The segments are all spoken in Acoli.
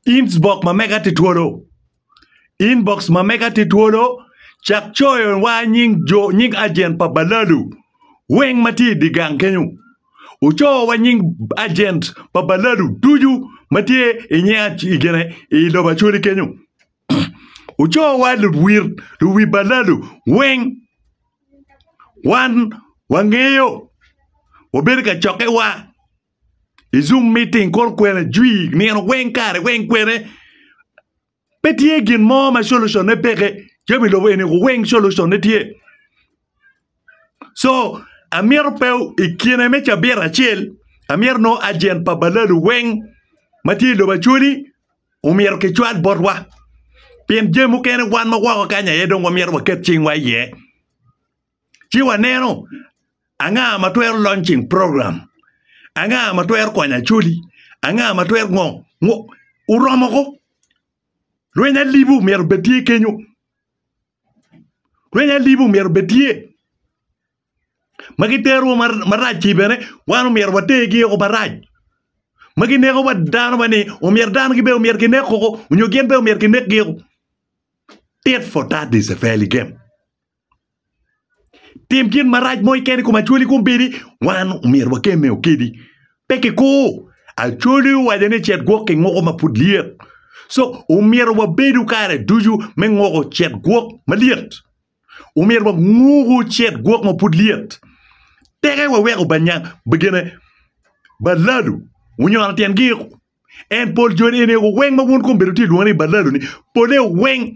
Inbox ma mega tye twolo. Inbox ma mega tye twolo. Cak coyo wa nying jo nying agent pa balalu weng ma tye idi gang kenyo. Wuco wa nying agent pa balalu ducu ma tye inye igene i lobo Acholi kenyo. Wuco wa luwir luwi balalu weng. Wan wangeyo. Wabedo ka cokke wa. I Zoom meeting kor kwena jwi nino weng kare weng kwene pe tye gin mo ma solution ne peke jami lobo eni ko weng solution ne tye so amyero pe i kine me cabit acel amyero no agent pa balalu weng ma tye i lobo acholi omyero ki cwal botwa pien jami mukene wan ma woko kanya aye dong wamyero waket cingwa iye. ci waneno anga ma twero launching program anga ma twero konyo Acholi anga ma twero ngo ngo oromo ko rweny alibu myero obed tye kenyo rweny alibu myero obed tye ma gitero wa marac-ci bene wan omyero watergi o marac ma gineko wa dano wa ni omyero dano gi bene omyero ginek koko nyo gin bene omyero ginekgi o tit for tat is a fairly game. Tim gin marac mo keken i kom Acholi kombeddi wan omyero wakemme okedi pe kikur Acholi owaco ni cet gwok ki ngoko ma pud lyet so omyero wabedu kare ducu me ngoko cet gwok malyet omyero wanguku cet gwok ma pud lyet teke wawek obanya gine balalu onyono tyen giko en pol joni eni weng ma wun kombeddi wutye ka lwongo ni balalu ni pole weng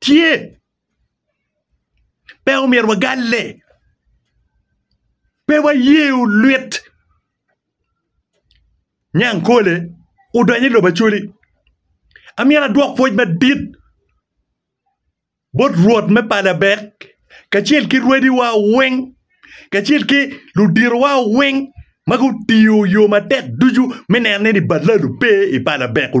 Tye. Pe omyero wagalle. Pe waye olwit. Nyang kole odonyo i lobo Acholi. Amyero adwok pwoc madit bot Rwot me pala Abek kacel ki rwediwa weng kacel ki luditowa weng ma gutiyo yo matek ducu me neno ni ballalo pe i pala Abek-ku.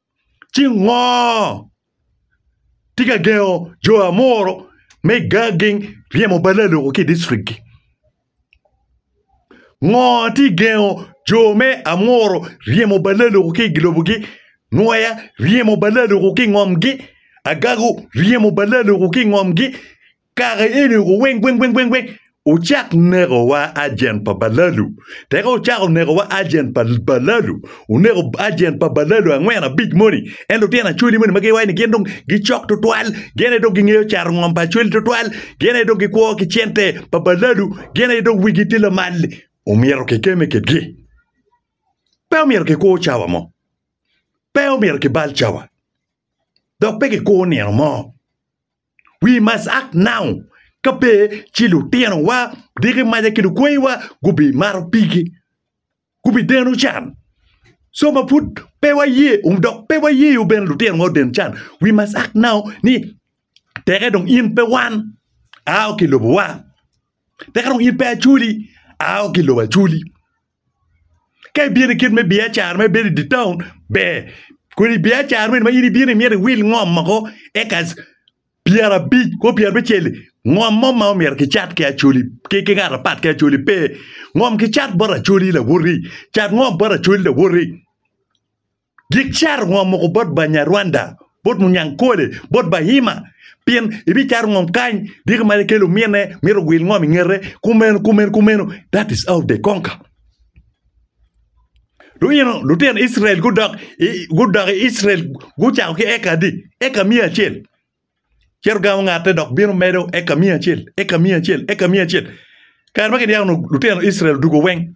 Ci ngo tye ka gengo jo amuro me geng ryemo bal aloku ki i dicrikgi? Ngo tye ka gengo jo me amuro ryemo bal aloku ki i lobogi? Nwoya ryemo bal aloku ki i ngomgi, agagu ryemo bal aloku ki i ngomgi, Kare eni oko weng weng weng weng weng ocak neko wa agent pa balalu teka ocako neko wa agent pa balalu oneko agent pa balalu angwen abic moni en lutino acholi moni ma giwaco ni gin dong gicok tutwal gin aye dong gingeyo cato ngom pa acholi tutwal gin aye dong gikwo ki cente pa balalu gin aye dong wigi tye lamal ni omyero kikeme kitgi pe omyero kikur cawa mo pe omyero kibal cawa dok pe kikur nino mo We must act now ka pe ci lutinowa, diki maca ki lukweyiwa gubimato pigi, gubideno can. So ma pud pe waye dok pe wayeyo bene lutinowa oden can, we must act now ni teke dong in pe wan, ao ki i lobowa, teke dong in pe Acoli, ao ki i lobo Acoli. Ka ibino i kit me biacara ma ibedo i dye taun ber kun i biacara meno ma in ibino imyero iwil ngom moko ekas pyerabic kwo pyerabicel-li ngom mo ma omyero kicat ki Acholi ki ngat apat ki Acholi pe ngom kicat bot Acholi lawoti cat ngom bot Acholi lawoti. Gik caro ngom mogo bot Banyarwanda, bot Munyankole, bot Bahima, pien ibicaro ngom kany, dyegi ma ikelo omine myero ogwil ngom i ngete, kumeno, kumeno, kumeno, that is how they conquer. Luyino lutino Icrael gudok i gudok i Icrael gucako ki eka adi? Eka miya acel. Cito gamo ngate dok bino medo eka miya acel, eka miya acel, eka miya acel. Kare ma kidyako lutino Icrael odwogo weng,